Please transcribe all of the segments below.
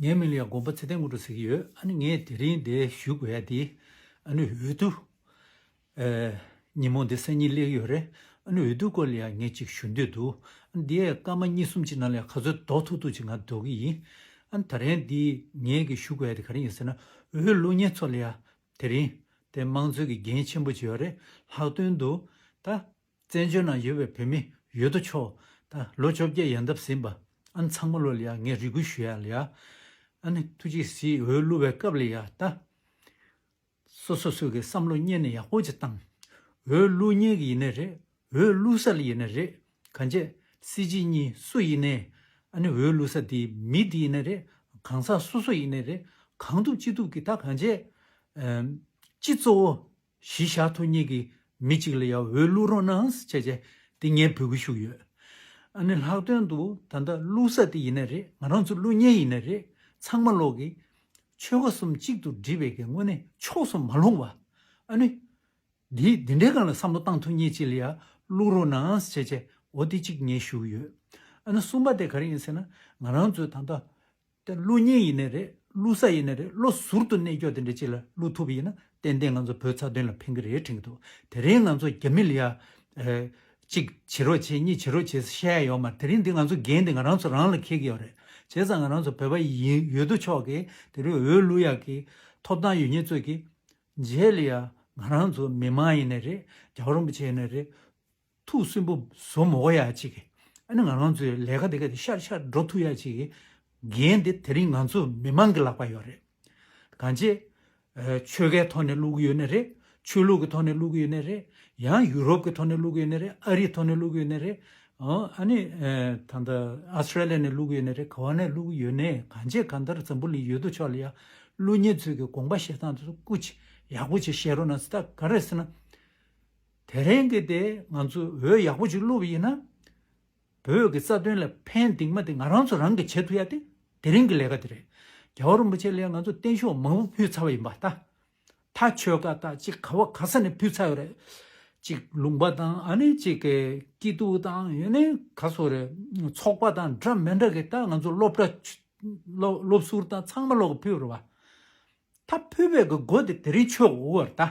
ངའི་མིང་ལ་ཡང་དགོངས་པ་ཚེ་བརྟན་དངོས་གྲུབ་ཟེར་གྱི་ཡོད་ཨ་ནི་ངས་དེ་རིང་འདི་ཞུ་དགོས་ཡ་དེ་ཨ་ནི་འོས་བསྡུ། ཉིན་མོ་འདི་སང་ཉིན་གླེགས་ཡོད་རེད་ཨ་ནི་འོས་བསྡུ་སྐོར་ལ་ཡང་ངས་ཅིག་ཞུ་འདོད་འདུག་ཨ་ནི་འདིའི་སྐར་མ་གཉིས་གསུམ་གཅིག་ནང་ལ་ཡང་ག་ཚོད་ལྡོག་ཐུབ་ཐུབ་ཅིག་ང་འདོད་གི་ཡིན་ཨ་ནི་ད་རེང་འདི་ངས་གི་ཞུ་དགོས་ཡ་དེ་ག་རེ་ཡིན་ཟེར་ན་འོས་བླུག་ཉེན་ཚོགས་ལ་ཡང་དེ་རིང་དེ་དམངས་གཙོའི་གི་འགན་ཆེན་པོ་ཅིག་ཡོད་རེད་ལྷག་དོན་དུ་ད་བཙན་བྱོལ་ནང་ཡོད་པའི་བོད་མི་ཡོད་དོ་ཆོག་ད་ལོ་བཅོ་བརྒྱད་ཡལ་འདབ་ཟིན་པ་ཨན་ཚང་མ་ལོ་ལ་ཡ་ངས་རེ་སྐུལ་ཞུ་ཡ་ལ་ཡ་ཨན་ཐུགས་རྗེ་གཟི་འོད་བསླུ་བའི་སྐབས་ལ་ཡ་ད་སོ་སོ་སོས་གི་བསམ་བློ་གཉེར་ནས་ཡག་པོ་ཅིག་བཏང་འོས་བསླུ་གཉེར་གི་ཡིན་ནའི་རེད་འོས་བསླུ་ས་ལ་ཡིན་ནའི་རེད་ག་འཇས་སྲིད་སྤྱི་གཉིས་སུ་ཡིན་ནའི་ཨན་འོས་བསླུ་ས་དེ་མི་དེ་ཡིན་ནའི་རེད་གང་ཟག་སོ་སོ་ཡིན་ནའི་རེད་གང་ཐུབ་ཅི་ཐུབ་གི་ད་ག་འཇས་སྤྱི་གཙོ་བོ། གཞི་བཞག་ཐུགས་མཉེས་ཀྱིས་མི་གཅིག་ལ་ཡ་འོས་བླུག་རོགས་གནང་བྱས་རྗེས་དེ་ངས་འབུལ་གྱི་ཞུགས་ཡོད། ཨ་ནི་ལྷག་དོན་དུ་ད་ལྟ་བླུག་ས་དེ་ཡིན་ནི་རེད་ང་རང་ཚོ་བླུག་ཉེན་ཡིན་ནི་རེད་ཚང་མ་ལོག་གི། ཆོལ་ཁ་གསུམ་གཅིག་ཏུ་སྒྲིལ་བའི་གི་དངོས་གནས་ཕྱོགས་སུ་མ་ལྷུང་བ། ཨ་ནི། འདི་འདི་འདྲའི་གང་ལ་བསམ་བློ་བཏང་ཐུགས་མཉེས་གཅིག་ལ་ཡ་བླུག་རོགས་གནང་བྱས་རྗེས་འོ་དེ་གཅིག་ངས་ཞུགས་ཡོད། ཨ་ནི་གསུམ་པ་དེ་ག་རེ་ཡིན་ཟེར་ན་ང་རང་ཚོས་ད་ལྟ། དེ་བསླུ་ཉེས་ཡིན་ནི་རེད་བསླུ་ས་ཡིན་ནི་རེད་བློ་ཟུར་དུ་གནས་སྐྱོ་དེ་འདྲའི་ཅིག་ལ་བསླུ་ཐུབ་ཡིན་ན་ཏན་ཏན་ང་ཚོ་བོད་ཚ་དོན་ལ་ཕན་གི་རེད་དྲན་གི་འདུག་དེ་རིང་ང་ཚོ་རྒྱ་མི་ལ་ཡ། གཅིག་བྱེད་རོགས་བྱེད་གཉིས་བྱེད་རོགས་བྱེད་ས་ཤེས་ཡ་ཡོད་མ་རེད་དེ་རིང་འདི་ང་ཚོ་འགན་འདི་ང་རང་ཚོ་རང་ལ་འཁེལ་གི་ཡོད་རེད་བྱས་ཙང་ང་རང་ཚོ་བོད་པ་ཡིན་ཡོད་དོ་ཆོག་གི་དེ་རིང་འོས་བསླུ་ཡག་གི་ཐོབ་ཐང་ཡོད་ཉེས་རྩོད་གི། མཇལ་ལ་ཡ། ང་རང་ཚོ་མི་དམངས་ཡིན་ནི་རེད་རྒྱ་བ་རིན་པོ་ཆེ་ཡིན་ནི་རེད། ཐུགས་སུན་པོ་བཟོ་མོ་གོ་ཡ་ཅིག་གི་ཨ་ནི་ང་རང་ཚོའི་ལས་ཀ་དེ་ག་དེ་ཤར་ཤར་འགྲོ་ཐུག་ཡ་ཅིག་གི་འགན་དེ་དེ་རིང་ང་ཚོ་མི་མང་གི་ལག་པ་ཡོད་རེད་གང་ཅེ། ཆོལ་ཁའི་ཐོག་ནས་བླུག་གི་ཡོད་ནི་རེད་ཆོས་ལུགས་ཀྱི་ཐོག་ནས་བླུག་གི་ཡོད་ནི་རེད་ཡང་ཡུ་རོབ་ཀྱི་ཐོག་ནས་བླུག་གི་ཡོད་ནི་རེད་ཨ་རིའི་ཐོག་ནས་བླུག་གི་ཡོད་ནི་རེད་ཨ་ནི་ད་ལྟ Australia ནས་བླུག་གི་ཡོད་ནི་རེད་ག་བ་ནས་བླུག་གི་ཡོད་ནི་གང་ཅེ་གང་ལྟར་འཛམ་བུ་ལི་ཡོད་དོ་ཆོག་ལ་ཡ་ཀླུ་གཉན་ཚོས་གི་དགོངས་པ་བཞེས་སྟངས་དེ་ཚོ་སྐུ་ཅི་ཡག་པོ་ཅིག་བཞེས་རོགས་གནང་སི་ད་ག་རེད་ཟེར་ན། དེ་རིང་གི་དེ་ང་ཚོས་འོད་ཡག་པོ་ཞིག་བླུ་བ་ཡིན་ན། བོད་ཀྱི་རྩ་དོན་ལ་ཕན་གདིང་མ་དེ་ང་རང་ཚོ་རང་གིས་བྱེད་ཐུབ་ཡ་དེ་དེ་རིང་གི་ལས་ཀ་དེ་རེད། རྒྱ་བོ་རིན་པོ་ཆེ་ལས་ང་ཚོ་བརྟན་བཞུགས་མང་པོ་ཕུལ་ཚར་བ་ཡིན་པ་ད། ད་ཆོལ་ཁ་དག་ཅིག་ག་བ་ག་ས་ནས་ཕུལ་ཚར་ཡོད་རེད། ཅིག་ལུང་པ་དང་ཨ་ནི་ཅིག་གི་སྐྱིད་སྡུག་དང་ཡོད་ནི་ག་སོ་རེད། ཚོགས་པ་དང་འདྲ་མི་འདྲ་གི་ད་ང་ཚོ་སློབ་གྲྭ། སློབ་ཟུར་དང་ཚང་མ་ལོག་གི་ཕུལ་བར་བ། ད་ཕུལ་བའི་གི་སྒོ་དེ་དེ་རིང་ཆོད་འོ་བར་ད།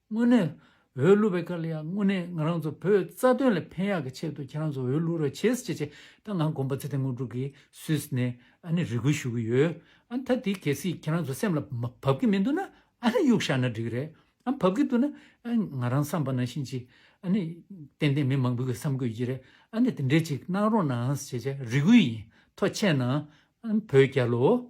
དངོས་གནས། འོས་བླུགས་པའི་སྐབས་ལ་ཡང་དངོས་གནས་ང་རང་ཚོ་བོད་རྩ་དོན་ལ་ཕན་ཡག་གི་ཆེད་དུ་ཁྱེད་རང་ཚོ་འོས་བླུགས་རོགས་བྱེད་ཅེས་བྱས་ད་ང་དགོངས་པ་ཚེ་བརྟན་དངོས་གྲུབ་ཀྱིས་སུད་སི་ནས་ཨ་ནི་རེ་སྐུལ་ཞུ་གི་ཡོད་ཨ་ནི་ད་དེ་གལ་སྲིད་ཁྱེད་རང་ཚོ་སེམས་ལ་བབས་ཀྱི་མི་འདུག་ན་ཨ་ནི་གཡུག་བཞག་ན་འགྲིག་རེད་ཨ་བབས་ཀྱི་འདུག་ན་ང་རང་བསམ་པ་ནང་བཞིན་ཅིག་ཨ་ནི་ཏན་ཏན་མི་མང་པོ་གི་བསམ་དགོས་ཀྱི་རེད་ཨ་ནི་དེ་འདྲས་ཅིག་གནང་རོགས་གནང་ཞེས་བྱས་རེ་སྐུལ་ཡིན་ཐོག་ཆད་ན་ཨ་ནི་བོད་རྒྱ་ལོ།